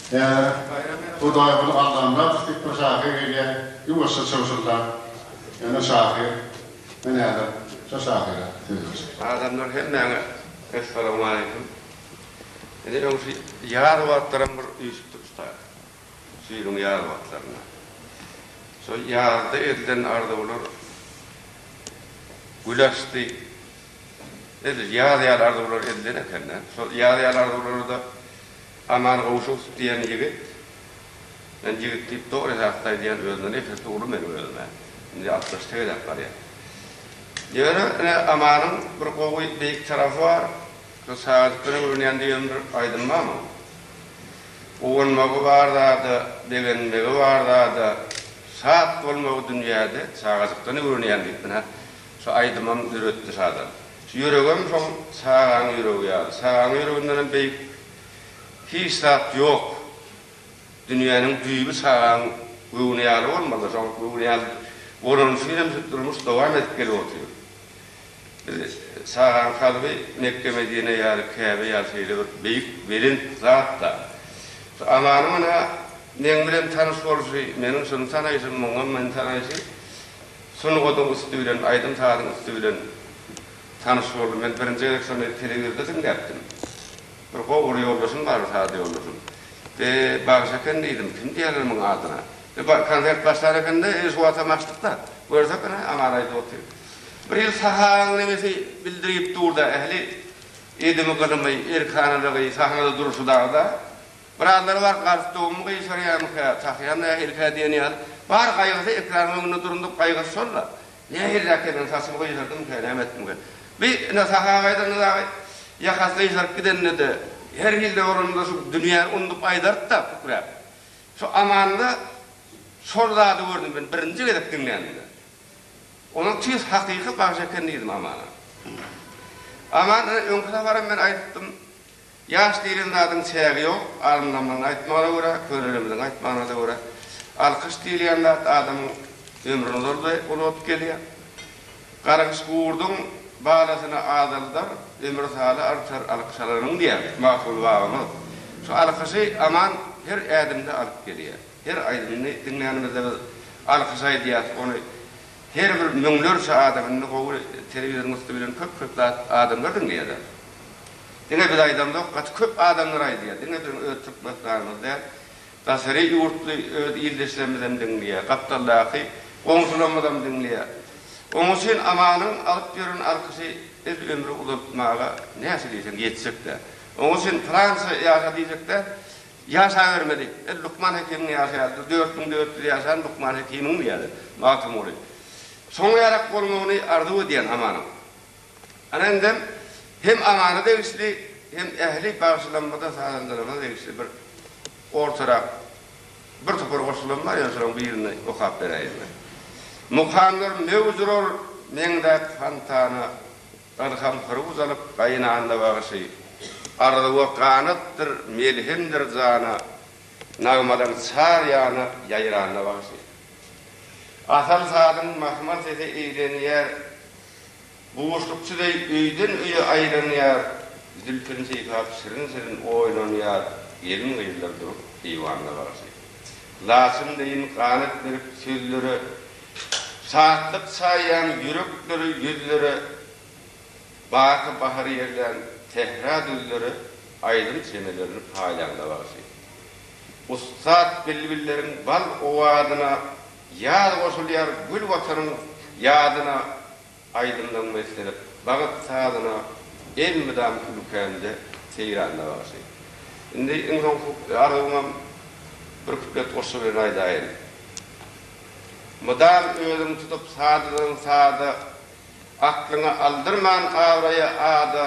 Däne, Hudaýguly Allamyradow diýip bir şahyr gelýär, ýuwaşja çygşyldap, Ýöne şahyr, men häzir şo şahyra söz berjek. Adamlar hemmäňe Essalamualeýkum. Ine öň şu ýaz wagtlaram bir üýşüpdik usta. Şu ýylyň ýaz wagtlarynda. Şo ýazda edilen arzuwlar gül açdy. Edil ýaz ýaly arzuwlar edilen eken-dä. Şol ýaz ýaly arzuwlary-da Aman Gowşusow diýen ýigit, men ýigit diýip dogry has-da aýdýan, özünden nesesi uly meniň özüme, indi altmyş tegeläp barýar. Ýöne, ine, Amanyň bir gowy, beýik tarapy bar, şu Saýadypdan öwrenýän diýen bir aýdym bar munuň. Guwanmagy bar zada, begenmegi bar zada, şat bolmagy dünýäde Çagajykdan öwrenýän diýip, ine, şu aýdymam döretdi şadan. Şu ýüregem şoň çagaň ýüregi ýaly. Çagaň ýüregindenem beýik hiç zat ýok. Dünýäniň düýbi çagaň göwni ýaly bolmaly. Şoň göwni ýaly bolany üçin hem şu durmuş dowam edip gelip otyr. Biz çagaň kalby Mekge-Medine ýaly, Käbe ýaly şeýle bir beýik, belent zat-da. Şu Amanyň ynha meň bilen tanyş bolşy, meniň şuny tanaýşym, muňam meni tanaýşy Sungatyň üsti bilen, aýdym-sazyň üsti bilen tanyş boldum. Men birinji gezek şony telewizorda diňläpdim. Bir gowy bir ýoldaşym bardy, saz ýoldaşym. Be, bagşy eken diýdim, kim diýerler muň adyna? Be, ba, konsert başlar eken-de, ine, şu watam açdyk-da, görsek, ine, Aňaraý dosty. Bir ýyl sahaň nemesi bildirgip dur-da, ähli edimi-gylymy, erkanalygy, sahnada durşy dagda. Birazdan bar galstugymy gyşarýarmyka, takýan nähilikä diýen ýaly, bar gaýgysy ekranyň öňünde durundyk gaýgysy şol-la. Nähiliräkkä men saçymy gyşardymyka, näme etdimkä? Bi, ine, saha gaýdanda dagy, ýakasy gyşaryp gidende-de, her hilde bolanynda şu dünýäni undup aýdardy-da, kükräp. Şu Amanda şol zady gördüm men birinji gezek diňlänimde. Onuň tüýs hakyky bagşy eken diýdim Amana. Amana öňki saparam men aýdypdym, Ýaş diýlen zadyň çägi ýok, alymlaryň aýtmagyna görä, könelerimiziň aýtmagyna-da görä, alkyş diýilýän zat adamyň ömrüni uzaldy, uladyp gelýär. Gargyş gurduň balasyny azaldar, ömür saly artar alkyş alanyň diýýär Magtymguly babamyz. Şu alkyşy Aman her ädimde alyp gelýär. Her aýdymyny diňlänimizde biz alkyş aýdýarys, ony her bir müňlerçe adam, indi gowy telewizoryň üsti bilen köp-köp zat adamlar diňleýärler. Diňe biz aýdamzok, gaty köp adamlar aýdýar. Diňe biziň öz türkmenistanymyz däl, daşary ýurtly öz ildeşlerimizem diňleýär, gapdaldaky goňşularymyzam diňleýär. Oň üçin Amanyň alyp ýören alkyşy biz ömri uzaltmaga näçe diýseň ýetjek däl. Oň üçin pylança ýaşa diýjek däl, ýaşabermeli. Biz Lukman Hekimiň ýaşy ýaly, biz dört müň dört ýüz ýaşan Lukman Hekimiňmi ýaly, Magtymguly. Soňa ýarak bolmagyny arzuw edýän Amanyň. Ana indem hem aňara degişli hem ähli bagşylarymyza sazandalarymyza degişli bir ortarak bir topar goşgulam bar ýöne şolaryň birini okap beräýeň men. Mukamlar möwjurur meňzäp fontana Ylham hyrwuz alyp gaýynanda bagşy Arzuwa ganatdyr melhemdir jana Nagmalar çar ýana ýaýranda bagşy. Asal sazyň mahmal sese eýlenýär Buşlukçy beý öýden-öýe aýlanýar, zülpüni sypap şirin-şirin oýlanýar, gelin-gyzlar durup eýwanda garşy. Laçyn beýiň ganat berip sözlere, şatlyk çaýýan ýüreklere, ýüzlere, baky bahar ýerlän sähra düzlere aýdym çemelerini paýlanda garşy. Ussat bilbilleriň bal owazyna. Ýaz goşulýar gül Watanyň ýadyna Aýdymdan beslenip bagt sazyna Elmydam ülkämde seýranda bagşy. Indi iň soňky arzuwymam bir kuplet goşgy bilen aýdaýyn. Mydam özüň tutup sadadan sada Aklyňy aldyrman abraýa ada.